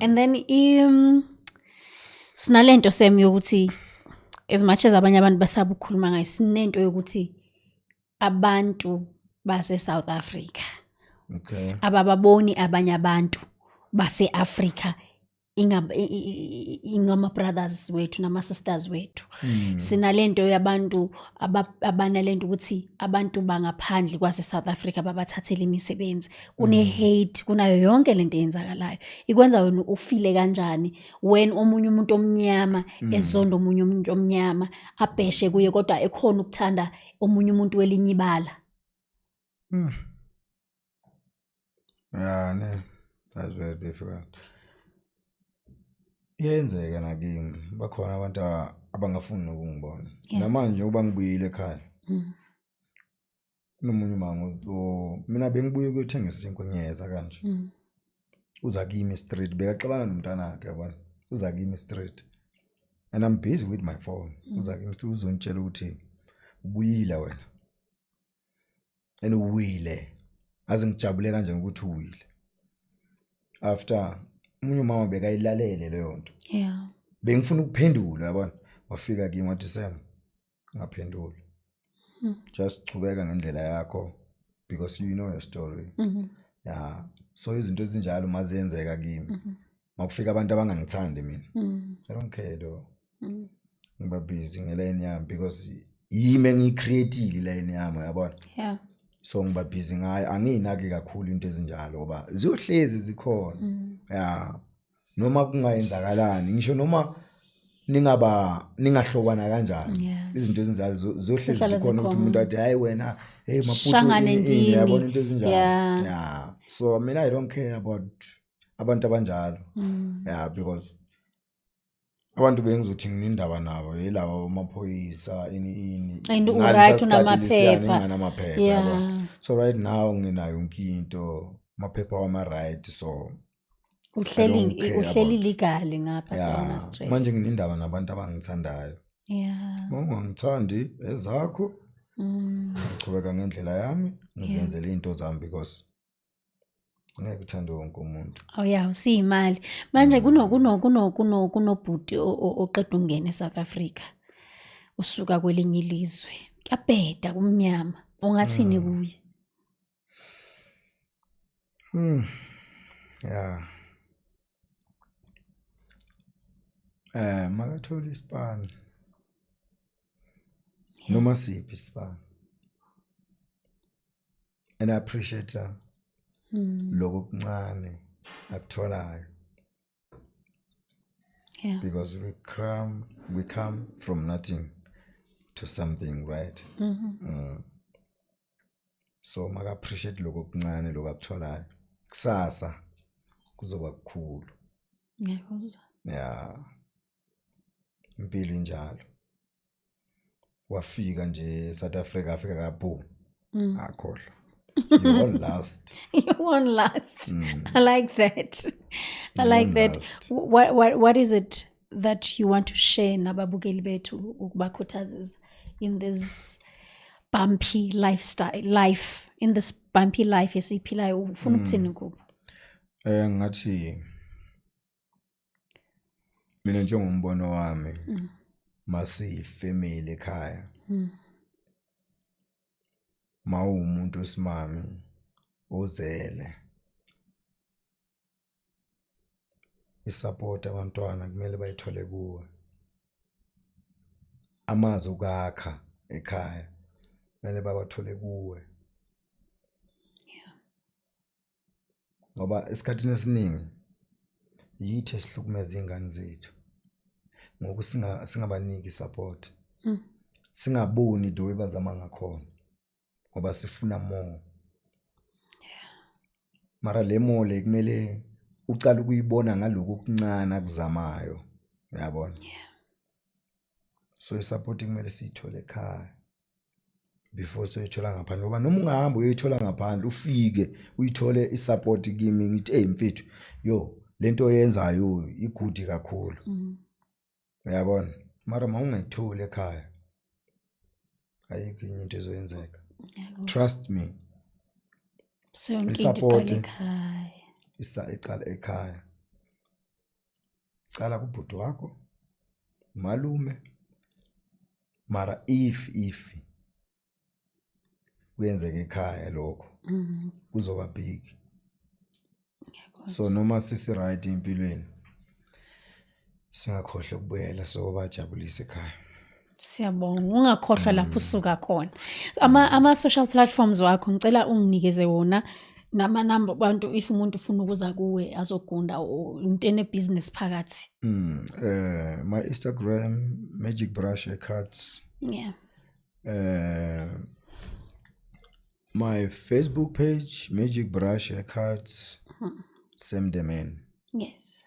and then i um, sinalento sem yokuthi as much as abanye abantu basaba ukukhuluma ngayo sinento yokuthi abantu base South Africa okay abababoni abanye abantu base Africa ingama brothers wethu nama sisters wethu hmm. sinalento yabantu abanalento ukuthi abantu bangaphandle kwase South Africa babathathele imisebenzi kune mm. hate kunayo yonke lento eyenzakalayo ikwenza wena ufile kanjani when omunye umuntu omnyama mm. ezonda omunye umuntu omnyama abheshe kuye kodwa ekhona ukuthanda omunye umuntu welinyibala mm. Yeah, ne. That's very difficult. Iyenzeka nakimi. Bakhona abantu abangafuni nokungibona. Namanje uba ngibuyile ekhaya. Mm. Nomunye umango so mina bengibuye ukuyothenga isinkwa ngiyeza kanje. Mm. Uza kimi street bekaxabana nomntana wakhe yabona. Uza kimi street. And I'm busy with my phone. Mm. Uza kimi street uzontshela ukuthi ubuyile wena. and uwile aze ngijabule kanje ngokuthi uwile after umunye umama bekayilalele leyo nto yeah bengifuna ukuphendula yabona wafika kimi wathi Sam ngaphendula hmm. just chubeka ngendlela yakho because you know your story mm -hmm. yeah so izinto ezinjalo maziyenzeka kimi mm -hmm. makufika abantu abangangithandi mina mm. i don't care though mm. ngiba busy ngelayini yami because yimi engiyicreatile ilayini yami yabona yeah so ngiba busy ngayo angiyinaki kakhulu into ezinjalo ngoba ziyohlezi zikhona mm. ya noma kungayenzakalani ngisho noma ningaba ningahlobana kanjani izinto ezinjalo zohlezi zikhona ukuthi umuntu athi hayi wena hey maputo yabona into ezinjalo yeah so mina i don't care about abantu abanjalo mm. yeah because abantu bengizothi nginendaba nabo yilawa amaphoyisa ini ini and uright unamaphepha namaphepha yeah. so right now nginayo yonke into amaphepha wama right so uhleli uhleli legally ngapha yeah. sona stress manje nginendaba nabantu abangithandayo yeah ungangithandi ezakho mm. ngichubeka ngendlela yami ngizenzele yeah. into zami because ngeke uthande wonke umuntu oh ya usiyimali manje mm. kuno kuno kuno kuno kunobhuti oqeda ungena eSouth Africa usuka kwelinye ilizwe kuyabheda kumnyama ungathini mm. kuye mm ya eh makathola isipani noma siphi isipani and i appreciate her mm. lokho kuncane akutholayo yeah. because we come we come from nothing to something right mm -hmm. mm. so maka appreciate lokho kuncane lokho akutholayo kusasa kuzoba kukhulu ngiyakuzwa yeah impilo injalo wafika nje South Africa afika ka boom mm. akhohlwa you won last you won last mm. i like that i you like that what, what what is it that you want to share nababukeli bethu ukubakhuthazisa in this bumpy lifestyle life in this bumpy life esiphilayo ufuna mm. ukuthini kubo eh ngathi mina njengombono wami mm. masiyifamily ekhaya mm. mawumuntu osimami ozele isupport abantwana kumele bayithole kuwe amazi ukakha ekhaya kumele bawathole kuwe ngoba esikhathini esiningi yithi esihlukumeza iy'ngane zethu ngoku singabaniki support mm. singaboni the way bazama ngakhona ngoba sifuna more mara le mo le kumele ucala ukuyibona ngaloku kuncane akuzamayo uyabona yeah. so isapoti kumele siyithole ekhaya before soyithola ngaphandle ngoba noma ungahamba uyoyithola ngaphandle ufike uyithole isapoti kimi ngithi eyi mfethu yo le nto oyenzayo igudi kakhulu mhm. uyabona mara ma ungayitholi ekhaya ayikho inye into ezoyenzeka trust me isapoti iqala ekhaya cala kubhuti wakho malume mara if if kuyenzeka ekhaya lokho mm-hmm. kuzoba big so noma sisi right empilweni singakhohle ukubuyela so bajabulise ekhaya siyabonga ungakhohlwa lapho mm. usuka khona ama ama social platforms wakho ngicela unginikeze wona nama number abantu if umuntu ufuna ukuza kuwe azogunda into ene business phakathi mm eh my Instagram magic brush cards yeah eh my Facebook page magic brush cards mm. same domain yes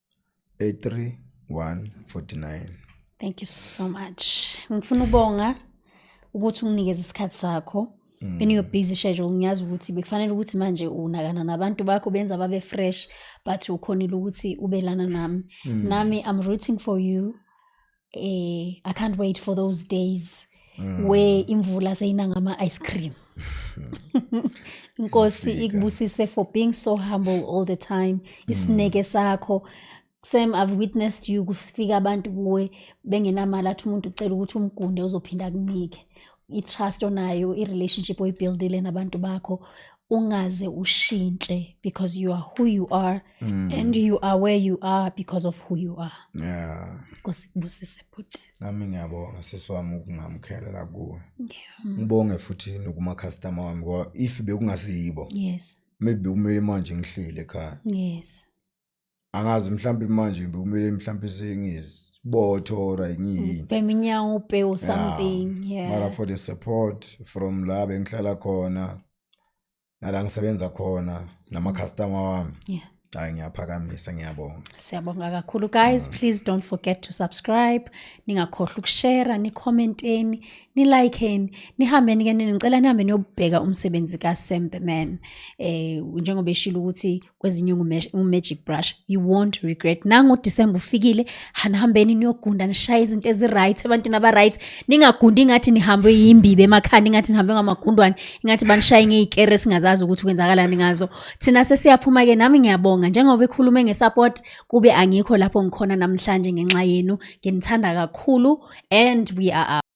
83149 thank you so much ngifuna ubonga ukuthi unginikeze isikhathi sakho mm. in your busy schedule ngiyazi ukuthi bekufanele ukuthi manje unakana nabantu bakho benza babe fresh but ukhonile ukuthi ubelana nami mm. nami i'm rooting for you eh i can't wait for those days mm. where imvula seyina ngama ice cream inkosi ikubusise for being so humble all the time isineke mm. sakho Sam I've witnessed you kufika abantu kuwe bengenamali athi umuntu ucela ukuthi umgunde uzophinda kunike i-trust onayo i-relationship oyibuildile nabantu bakho ungaze ushintshe because you are who you are mm. and you are where you are because of who you are yeah nkosi kubusise bhuti nami ngiyabonga sisi wami ukungamkhelela kuwe yeah. ngibonge futhi nokumacustomer wami ngoba if bekungasiyibo yes maybe bekumele manje ngihlile ekhaya yes angazi mhlawumbe manje ngibe kumele mhlawumbe sengizibotho or ngiyini bhema inyawo ubhe or something yeah mara for the support from la bengihlala khona nala ngisebenza khona nama-customer wami yeah hayi ngiyaphakamisa ngiyabonga siyabonga kakhulu guys mm. please don't forget to subscribe ningakhohlwa ukushera nicommenteni nilikeni nihambeni ke ngicela nihambe niyobheka umsebenzi ka-sam the man eh njengoba eshilo ukuthi kwezinye ungu-magic brush you won't regret nangoDisemba ufikile hanihambeni niyogunda nishaye izinto ezi-right ebantwini aba-right ningagundi ingathi nihambwe yimbibe emakhanda ingathi nihambe ngamagundwane ingathi banishaye ngey'kere singazazi ukuthi kwenzakalani ngazo thina sesiyaphuma-ke nami ngiyabonga njengoba ekhulume nge-support kube angikho lapho ngikhona namhlanje ngenxa yenu nginithanda kakhulu and we are up.